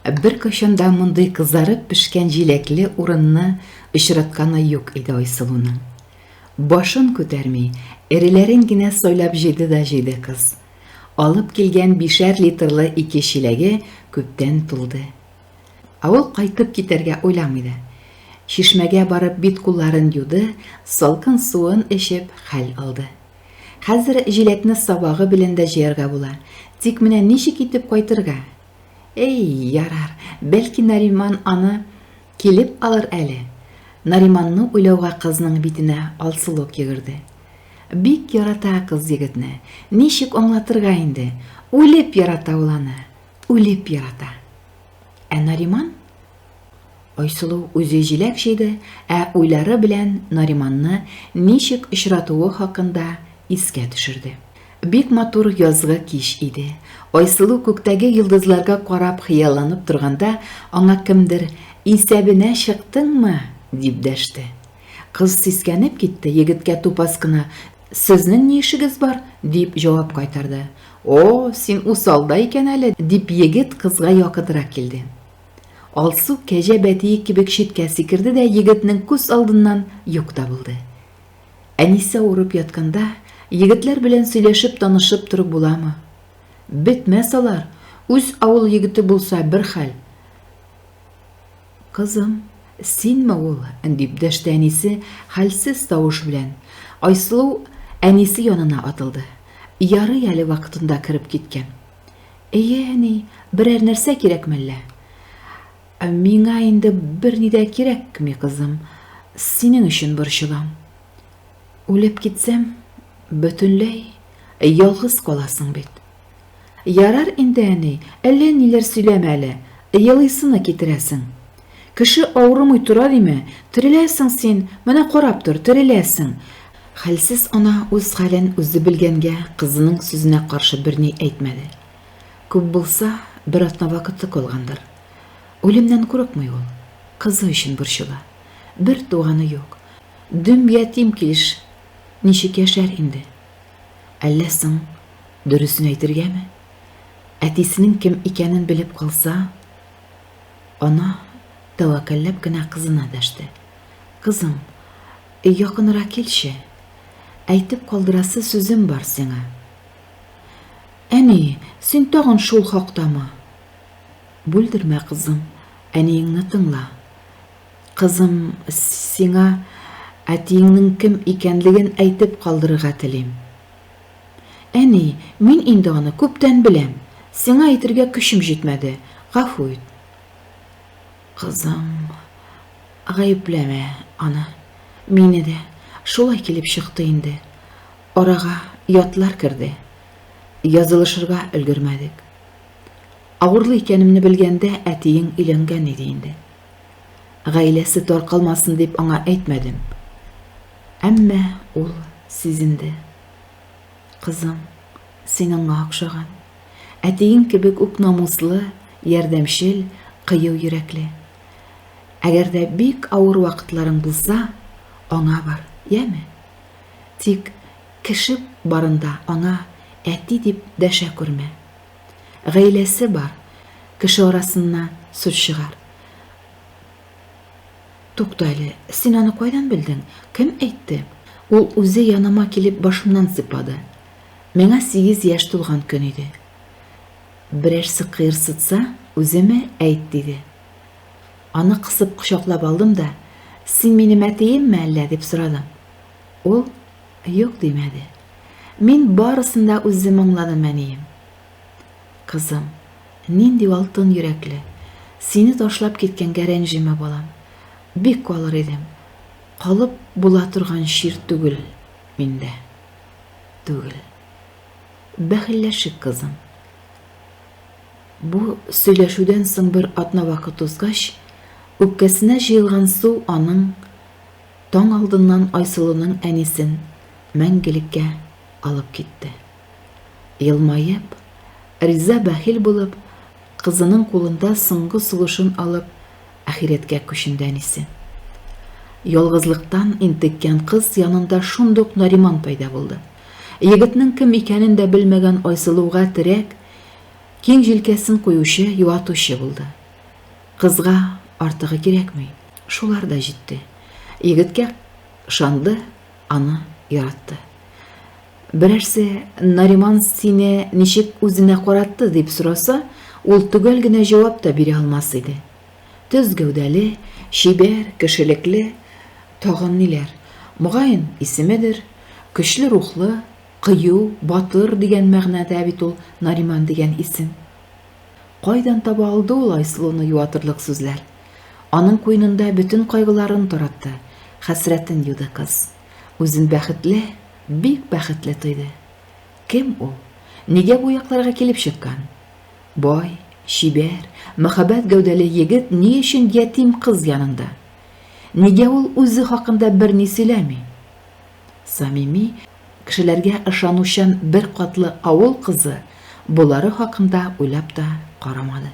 Ә беркайчан да мондый кызарып пешкән җиләкле урынны очратканы юк иде Айсылуның. Башын күтәрми, эреләрен генә сайлап җыйды да җыйды кыз. Алып килгән бишәр литрлы ике чиләге күптән тулды. Ә ул кайтып китәргә уйламый да. Чишмәгә барып бит-кулларын юды, салкын суын эчеп, хәл алды. Хәзер җиләкне сабагы белән дә җыярга була, тик менә ничек итеп кайтырга? Әй, ярар, бәлки Нариман аны килеп алыр әле? Нариманны уйлауга кызның битенә алсулык йөгерде. Бик ярата кыз егетне, ничек аңлатырга инде, үлеп ярата ул аны, үлеп ярата. Ә Нариман? Айсылу үзе җиләк җыйды, ә уйлары белән Нариманны ничек очратуы хакында искә төшерде. Бик матур язгы кич иде. Айсылу күктәге йолдызларга карап хыялланып торганда, аңа кемдер, Исәбенә чыктыңмы? дип дәште. Кыз сискәнеп китте, егеткә тупас кына, Сезнең ни эшегез бар? дип җавап кайтарды. О, син усал да икән әле, дип егет кызга якынрак килде. Алсу кәҗә бәтие кебек читкә сикерде дә егетнең күз алдыннан юк та булды. Әнисә урып ятканда, егетләр белән сөйләшеп танышып торып буламы? Бетмәс алар, үз авыл егете булса бер хәл. Кызым, синме ул? дип дәште әнисе хәлсез тавыш белән. Айсылу әнисе янына атылды. Ярый әле вакытында кереп киткән. Әйе, әни, берәр нәрсә кирәк мәллә? Ә миңа инде берни дә кирәкми, кызым. Синең өчен борчылам. Үлеп китсәм, бөтенләй ялгыз каласың бит. Ярар инде, әни, әллә ниләр сөйләмә әле. Елыйсыны китерәсең. Кеше авырымый тора диме? Тереләсең син, менә карап тор, тереләсең. Хәлсез ана үз хәлен үзе белгәнгә кызының сүзенә каршы берни әйтмәде. Күп булса, бер атна вакыты калгандыр. Үлемнән курыкмый ул. Кызы өчен борчыла. Бер туганы юк. Дөм ятим килеш ничек яшәр инде? Әллә соң дөресен әйтергәме? Әтисенең кем икәнен белеп калса? Ана тәвәккәлләп кенә кызына дәште. Кызым, якынрак килче, әйтеп калдырасы сүзем бар сиңа. Әни, син тагын шул хактамы? Бүлдермә, кызым, әниеңне тыңла. Кызым, сиңа әтиеңнең кем икәнлеген әйтеп калдырырга телим. Әни, мин инде аны күптән беләм. Сиңа әйтергә көчем җитмәде. Гафу ит. Кызым, гаепләмә аны. Мине дә шулай килеп чыкты инде. Арага ятлар керде. Язылышырга өлгермәдек. Авырлы икәнемне белгәндә, әтиең өйләнгән иде инде. Гаиләсе таркалмасын дип аңа әйтмәдем. Әмма ул сизенде. Кызым, син аңа охшаган. Әтиең кебек үк намуслы, ярдәмчел, кыю йөрәкле. Әгәр дә бик авыр вакытларың булса, аңа бар, яме? Тик кеше барында аңа әти дип дәшә күрмә. Гаиләсе бар, кеше арасына сүз чыгар. Тукта әле, син аны кайдан белдең? Кем әйтте? Ул үзе яныма килеп башымнан сыйпады. Миңа сигез яшь тулган көн иде. Берәрсе кыерсытса, үземе, әйт, диде. Аны кысып кочаклап алдым да, Син минем әтиемме әллә? дип сорадым. Ул юк димәде. Мин барысын да үзем аңладым, әнием. Кызым, нинди алтын йөрәкле. Сине ташлап киткәнгә рәнҗемә, балам. Бик калыр идем. Калып була торган чир түгел миндә. түгел. Бәхилләшик, кызым. Бу сөйләшүдән соң бер атна вакыт узгач, үпкәсенә җыелган су аның таң алдыннан Айсылуның әнисен мәңгелеккә алып китте. Елмаеп, риза бәхил булып, кызының кулында соңгы сулышын алып, Ахирәткә күченде әнисе. Ялгызлыктан интеккән кыз янында шундук Нариман пәйда булды. Егетнең кем икәнен дә белмәгән Айсылуга терәк, киң җилкәсен куючы, юатучы булды. Кызга артыгы кирәкми, шулар да җитте. Егеткә ышанды, аны яратты. Берәрсе, Нариман сине ничек үзенә каратты, дип сораса, ул төгәл генә җавап та бирә алмас иде. Төз гәүдәле, чибәр, кешелекле, тагын ниләр. Мөгаен, исемедер, көчле рухлы, кыю, батыр дигән мәгънәдә бит ул Нариман дигән исем. Кайдан таба алды ул Айсылуны юатырлык сүзләр? Аның куенында бөтен кайгыларын таратты, хәсрәтен юды кыз. Үзен бәхетле, Бик бәхетле тойды. Кем ул? Нигә бу якларга килеп чыккан? Бай, чибәр, мәһабәт гәүдәле егет ни өчен ятим кыз янында? Нигә ул үзе хакында берни сөйләми? Самими кешеләргә ышанучан бер катлы авыл кызы болары хакында уйлап та карамады.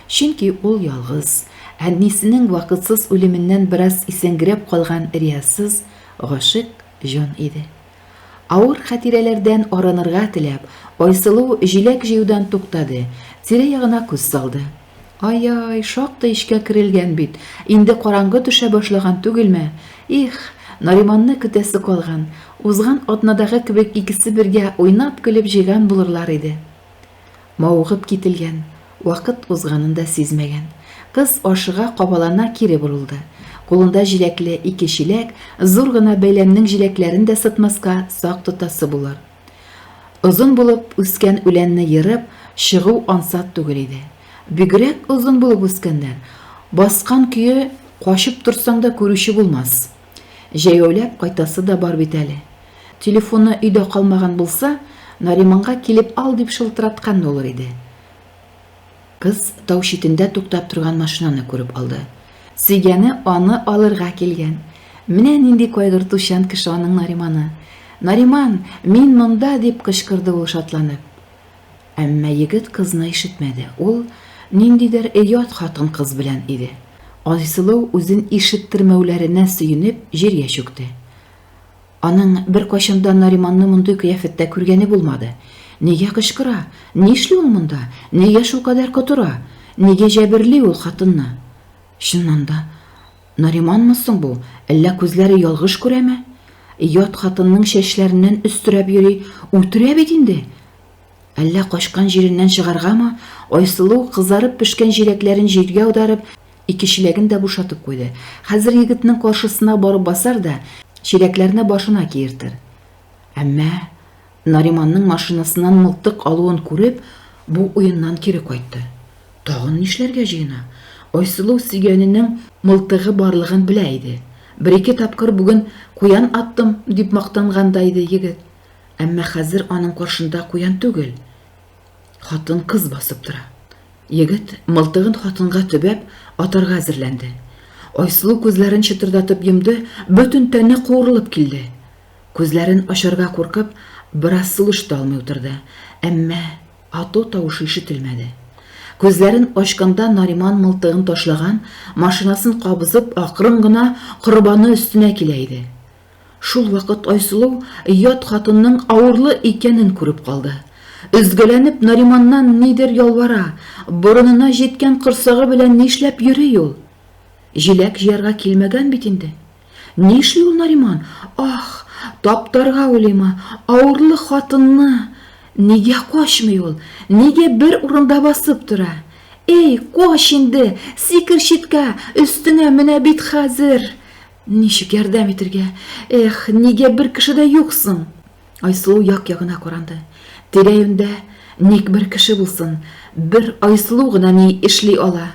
Чөнки ул ялгыз, әнисенең вакытсыз үлеменнән бераз исәнгерәп калган риясыз, гашыйк җан иде. Авыр хатирәләрдән арынырга теләп, Айсылу җиләк җыюдан туктады, тирә-ягына күз салды. Ай-ай, шактый эчкә керелгән бит, инде караңгы төшә башлаган түгелме? Их, Нариманны көтәсе калган. Узган атнадагы кебек икесе бергә уйнап-көлеп җыйган булырлар иде. Мавыгып кителгән, вакыт узганын да сизмәгән. Кыз ашыга-кабалана кире борылды. Кулында җиләкле ике чиләк, зур гына бәйләмнең җиләкләрен дә сытмаска сак тотасы булыр. Озын булып үскән үләнне ерып чыгу ансат түгел иде. Бигрәк озын булып үскәннәр. Баскан көе качып торсаң да күрүче булмас. Җәяүләп кайтасы да бар бит әле. Телефоны өйдә калмаган булса, Нариманга килеп ал дип шылтыраткан да улыр иде. Кыз тау читендә туктап торган машинаны күреп алды. Сөйгәне аны алырга килгән. Менә нинди кайгыртучан кеше аның Нариманы. Нариман, мин монда, дип кычкырды ул шатланып. Әмма егет кызны ишетмәде. Ул ниндидер оят хатын-кыз белән иде. Айсылу үзен ишеттермәүләренә сөенеп, җиргә чүкте. Аның беркайчан да Нариманны мондый кыяфәттә күргәне булмады. Нигә кычкыра? Нишли ул монда? Нигә шулкадәр котыра? Нигә җәберли ул хатынны? Чыннан да, Нариманмы соң бу, әллә күзләре ялгыш күрәме? Ят хатынның чәчләреннән өстерәп йөри, үтерә бит инде! Әллә качкан җиреннән чыгаргамы? Айсылу, кызарып пешкән җиләкләрен җиргә аударып, ике чиләген дә бушатып куйды. Хәзер егетнең каршысына барып басар да, чиләкләрне башына киертер. Әмма Нариманның машинасыннан мылтык алуын күреп, бу уеннан кире кайтты. Тагын нишләргә җыена? Айсылу сөйгәненең мылтыгы барлыгын белә иде. Бер-ике тапкыр бүген куян аттым, дип мактанган да иде егет. Әмма хәзер аның каршында куян түгел, хатын-кыз басып тора. Егет, мылтыгын хатынга төбәп, атарга әзерләнде. Айсылу күзләрен чытырдатып йомды, бөтен тәне куырылып килде. Күзләрен ачарга куркып, бераз сулыш та алмый утырды, әмма ату тавышы ишетелмәде. Күзләрен ачканда Нариман мылтыгын ташлаган, машинасын кабызып, акрын гына Корбаны өстенә килә иде. Шул вакыт Айсылу ят хатынның авырлы икәнен күреп калды. Өзгәләнеп Нариманнан нидер ялвара, борынына җиткән корсагы белән нишләп йөри ул? Җиләк җыярга килмәгән бит инде. Нишли ул Нариман? Ах, таптарга уйлыйм, авырлы хатынны! Нигә качмый ул? Нигә бер урында басып тора? Эй, кач инде, сикер читкә, өстеңә менә бит хәзер! Ничек ярдәм итергә? Эх, нигә бер кеше дә юк соң? Айсылу як-ягына каранды. Тирә-юньдә ник бер кеше булсын, бер Айсылу гына ни эшли ала?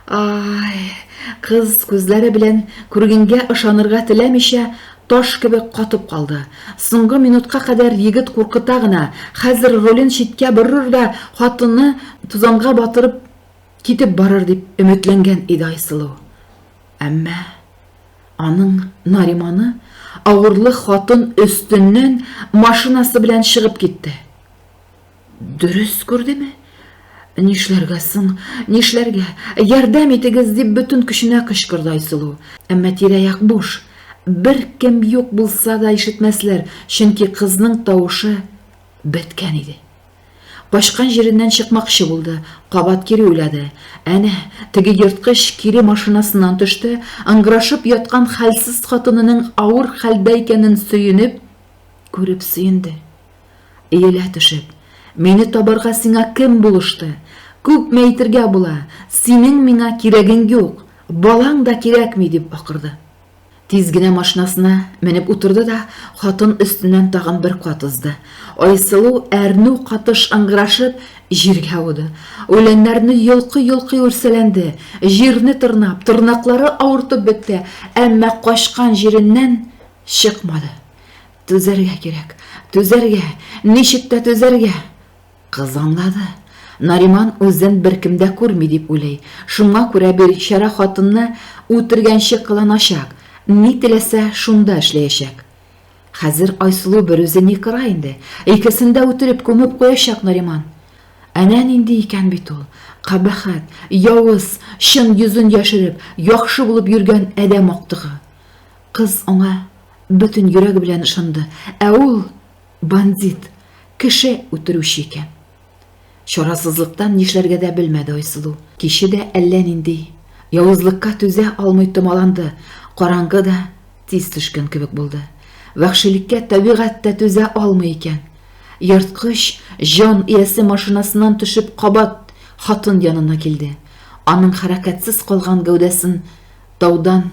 Ай! Кыз күзләре белән күргәнгә ышанырга теләмичә, таш кебек катып калды. Соңгы минутка кадәр егет куркыта гына, хәзер рулен читкә борыр да хатынны тузанга батырып китеп барыр дип өметләнгән иде Айсылу. Әмма. Аның Нариманы авырлы хатын өстеннән машинасы белән чыгып китте. Дөрес күрдеме? Нишләргә соң, нишләргә? Ярдәм итегез, дип бөтен көченә кычкырды Айсылу. Әмма тирә-як буш. Бер кем юк булса да ишетмәсләр, чөнки кызның тавышы беткән иде. Качкан җиреннән чыкмакчы булды, кабат кире уйлады. Әнә, теге ерткыч кире машинасыннан төште, ыңгырашып яткан хәлсез хатынының авыр хәлдә икәнен сөенеп, күреп сөенде. Иелә төшеп, Мине табарга сиңа кем булышты? Күпме әйтергә була, синең миңа кирәгең юк, балаң да кирәкми, дип акырды. Тиз генә машинасына менеп утырды да хатын өстеннән тагын бер кат узды. Айсылу әрнү катыш ыңгырашып, җиргә ауды. Үләннәрне йолкый-йолкый үрсәләнде, җирне тырнап, тырнаклары авыртып бетте, әмма качкан җиреннән чыкмады. Түзәргә кирәк, түзәргә, ничек тә түзәргә! Кыз аңлады. Нариман үзен беркем дә күрми дип уйлый. Шуңа күрә бирчара хатынны үтергәнче кыланачак, ни теләсә, шунда эшләячәк. Хәзер Айсылу берүзе ни кыра инде, икесен дә үтереп күмеп куячак Нариман. Әнә нинди икән бит ул, кабәхәт, явыз, чын йөзен яшереп, яхшы булып йөргән адәм актыгы. Кыз аңа бөтен йөрәге белән ышанды, ә ул Бандит, кеше үтерүче икән. Чарасызлыктан нишләргә дә белмәде Айсылу. Киче дә әллә нинди явызлыкка түзә алмый томаланды, караңгы да тиз төшкән кебек булды. Вәхшилеккә табигать тә түзә алмый икән. Ерткыч җан иясе машинасыннан төшеп кабат хатын янына килде. Аның хәрәкәтсез калган гәүдәсен таудан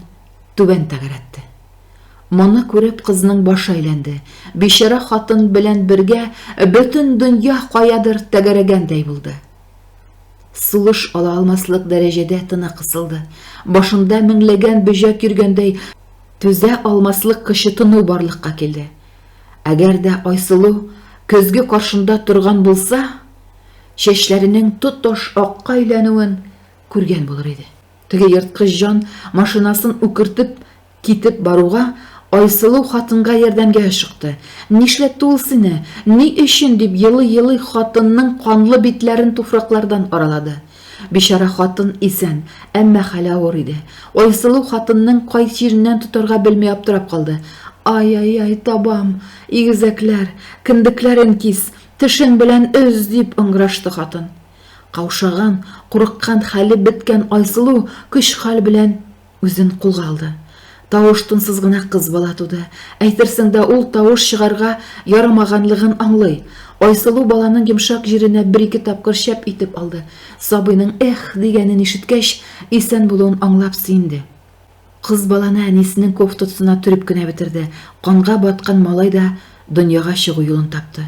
түбән тәгәрәтте. Моны күреп, кызның башы әйләнде. Бичара хатын белән бергә бөтен дөнья каядыр тәгәрәгәндәй булды. Сулыш ала алмаслык дәрәҗәдә тыны кысылды. Башында меңләгән бөҗәк йөргәндәй, түзә алмаслык кычытыну барлыкка килде. Әгәр дә Айсылу көзге каршында торган булса, чәчләренең тоташ акка әйләнүен күргән булыр иде. Теге ерткыч җан машинасын үкертеп Китеп баруга, Айсылу хатынга ярдәмгә ашыкты. Нишләтте ул сине? Ни өчен? дип елый-елый хатынның канлы битләрен туфраклардан аралады. Бичара хатын исән, әмма хәле авыр иде. Айсылу хатынның кай җиреннән тотарга белми аптырап калды. Ай-ай-ай, табам! Игезәкләр! Кендекләрен кис! Тешең белән өз! дип ыңгырашты хатын. Каушаган, курыккан, хәле беткән Айсылу көч-хәл белән Үзен кулга алды. Тавыш-тынсыз гына кыз бала туды. Әйтерсең дә ул тавыш чыгарга ярамаганлыгын аңлый. Айсылу баланың йомшак җиренә бер-ике тапкыр чәп итеп алды. Сабыйның Эх! дигәнен ишеткәч, исән булуын аңлап сөенде. Кыз баланы әнисенең кофтасына төреп кенә бетерде. Канга баткан малай да дөньяга чыгу юлын тапты.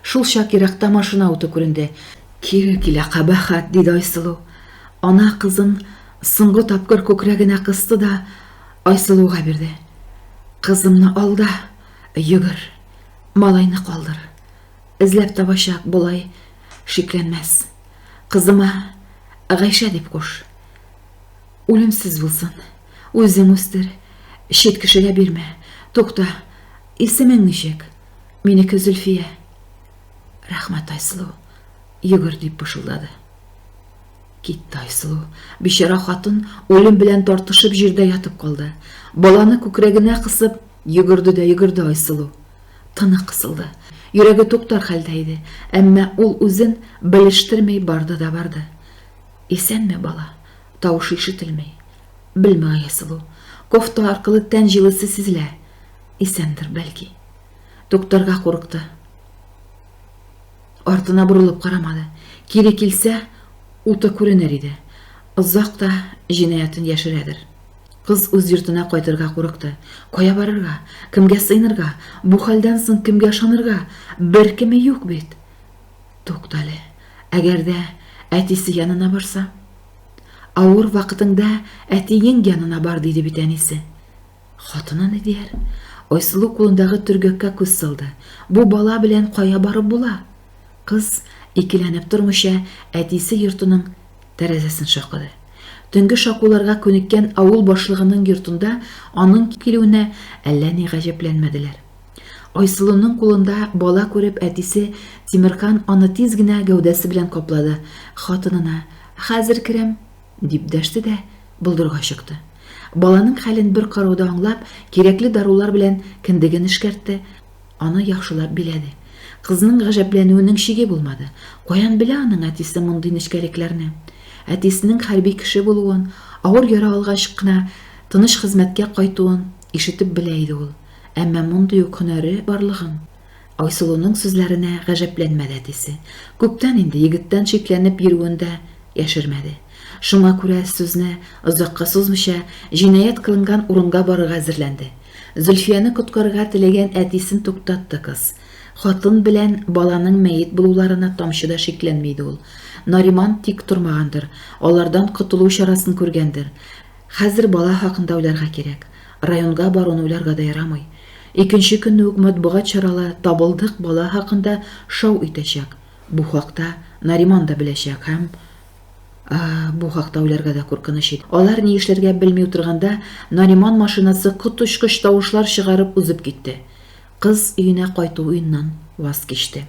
Шулчак еракта машина уты күренде. Кире килә, кабахәт, диде Айсылу. Ана кызын Соңгы тапкыр күкрәгенә кысты да Айсылуга бирде. Кызымны алда, йөгер, малайны калдыр. Эзләп табачак, болай шикләнмәс. Кызыма Гайшә дип куш. Үлемсез булсын. Үзең үстер. Чит кешегә бирмә. Тукта, исемең ничек? Минеке Зөлфия. Рәхмәт, Айсылу. Йөгер, дип пышылдады. Китте Айсылу. Бичара хатын үлем белән тартышып җирдә ятып калды. Баланы күкрәгенә кысып, йөгерде дә йөгерде Айсылу. Тыны кысылды. Йөрәге туктар хәлдә иде, әмма ул үзен белештерми барды да барды. Исәнме, бала? Тавышы ишетелми. Белмәй Айсылу. Кофта аркылы тән җылысы сизелә. Исәндер, бәлки. Туктарга курыкты. Артына борылып карамады. Кире килсә, уты күренер иде. Озак та җинаятен яшерәдер. Кыз үз йортына кайтырга курыкты. Кая барырга? Кемгә сыенырга? Бу хәлдән соң кемгә ышанырга? Беркеме юк бит! Туктале, әгәр дә әтисе янына барса? Авыр вакытыңда әтиең янына бар, диде бит әнисе. Хатыны ни дияр? Айсылу кулындагы төргәккә күз салды. Бу бала белән кая барып була? Кыз, икеләнеп тормыйча, әтисе йортының тәрәзәсен шакыды. Төнге шакуларга күнеккән авыл башлыгының йортында аның килүенә әллә ни гаҗәпләнмәделәр. Айсылуның кулында бала күреп, әтисе Тимерхан аны тиз генә гәүдәсе белән каплады, хатынына, Хәзер керәм, Дип дәште дә болдырга чыкты. Баланың хәлен бер карауда аңлап, кирәкле дарулар белән кендеген эшкәртте, аны яхшылап биләде. Кызның гаҗәпләнүенең чиге булмады. Каян белә аның әтисе мондый нечкәлекләрне? Әтисенең хәрби кеше булуын, авыр яра алгач кына тыныч хезмәткә кайтуын ишетеп белә иде ул. Әмма мондый ук һөнәре барлыгын Айсылуның сүзләренә гаҗәпләнмәде әтисе. Күптән инде егеттән шикләнеп йөрүен дә яшермәде. Шуңа күрә сүзне озакка сузмыйча, җинаять кылынган урынга барырга әзерләнде. Зөлфияне коткарырга теләгән әтисен туктатты кыз. Хатын белән баланың мәет булуларына тамчы да шикләнми иде ул. Нариман тик тормагандыр, алардан котылу чарасын күргәндер. Хәзер бала хакында уйларга кирәк. Районга баруны уйларга да ярамый. Икенче көнне үк матбугат чаралы Табылдык бала хакында шау итәчәк. Бу хакта Нариман да беләчәк һәм Аһ, бу хакта уйларга да куркыныч иде. Алар ни эшләргә белми утырганда, Нариман машинасы коточкыч тавышлар чыгарып узып китте. Кыз өенә кайту уеннан ваз кичте.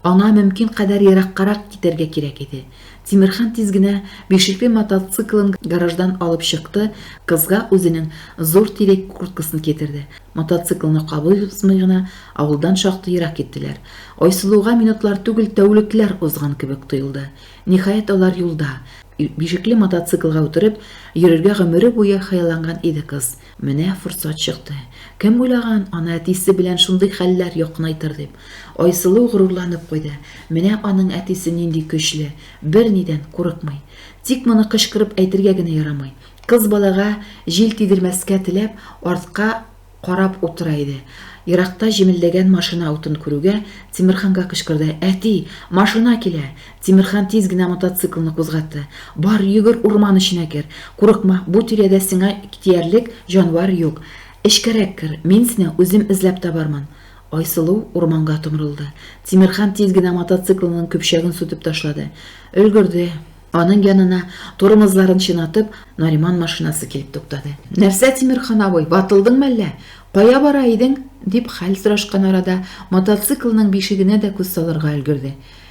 Аңа мөмкин кадәр ераккарак китәргә кирәк иде. Тимерхан тиз генә бишекле мотоциклын гараждан алып чыкты, кызга үзенең зур тирек курткасын китерде. Мотоциклны кабул узмый гына авылдан шактый ерак киттеләр. Айсылуга минутлар түгел, тәүлекләр узган кебек тоелды. Ниһаять, алар юлда. Бишекле мотоциклга утырып йөрергә гомере буе хыялланган иде кыз. Менә форсат чыкты. Кем уйлаган, аны әтисе белән шундый хәлләр якынайтыр дип. Айсылу горурланып куйды. Менә аның әтисе нинди көчле, бернидән курыкмый. Тик моны кычкырып әйтергә генә ярамый. Кыз балага җил тидермәскә теләп, артка карап утыра иде. Еракта җемелдәгән машина утын күрүгә, Тимерханга кычкырды, Әти, машина килә! Тимерхан тиз генә мотоциклны кузгатты. Бар, йөгер, урман эченә кер. Курыкма, бу тирәдә сиңа тиярлек җанвар юк. Эчкәрәк кер, мин сине үзем эзләп табармын. Айсылу урманга томырылды. Тимерхан тиз генә мотоциклының көпчәген сүтеп ташлады. Өлгерде. Аның янына, тормозларын чинатып, Нариман машинасы килеп туктады. Нәрсә, Тимерхан абый, ватылдыңмы әллә? Кая бара идең? дип хәл сорашкан арада, мотоциклының бишегенә дә күз салырга өлгерде.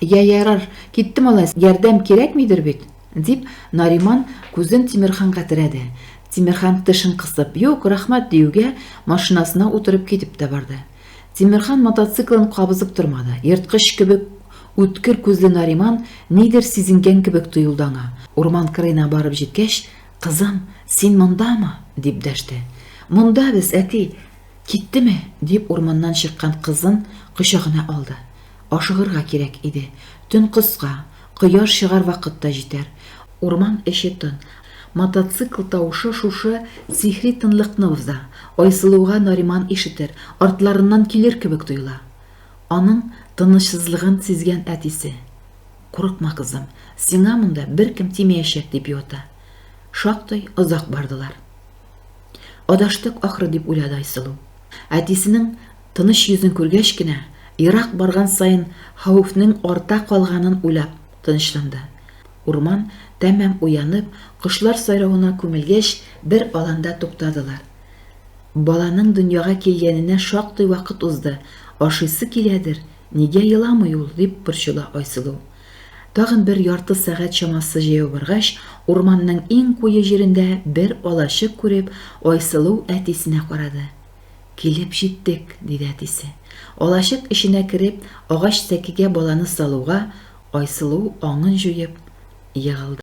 Йә, ярар, китте малайс, ярдәм кирәкмидер бит? дип, Нариман күзен Тимерханга терәде. Тимерхан тешен кысып, Юк, рәхмәт, диюгә, машинасына утырып китеп тә барды. Тимерхан мотоциклын кабызып тормады. Ерткыч кебек үткер күзле Нариман нидер сизенгән кебек тоелды аңа. Урман кырыена барып җиткәч, Кызым, син мондамы? дип дәште. Монда без, әти. Киттеме? дип урманнан чыккан кызын кочагына алды. Ашыгырга кирәк иде. Төн кыска, кояш чыгар вакыт та җитәр. Урман эче тын. Мотоцикл тавышы шушы сихри тынлыкны боза. Айсылуга Нариман ишетер, артларыннан килер кебек тоела. Аның тынычсызлыгын сизгән әтисе. Курыкма, кызым, сиңа монда беркем тимәячәк, дип юата. Шактый озак бардылар. Адаштык, ахры, дип уйлады Айсылу. Әтисенең. Тыныч йөзен күргәч кенә, ерак барган саен хәвефнең арта калганын уйлап, тынычланды. Урман тәмам уянып, кошлар сайравына күмелгәч, бер аланда туктадылар. Баланың дөньяга килгәненә шактый вакыт узды, ашыйсы киләдер, нигә еламый ул, дип борчыла Айсылу. Тагын бер ярты сәгать чамасы җәяү баргач, урманның иң куе җирендә бер алачык күреп, Айсылу әтисенә карады. Килеп җиттек, диде әтисе. Алачык эченә кереп, агач сәкегә баланы салуга, Айсылу, аңын җуеп, егылды.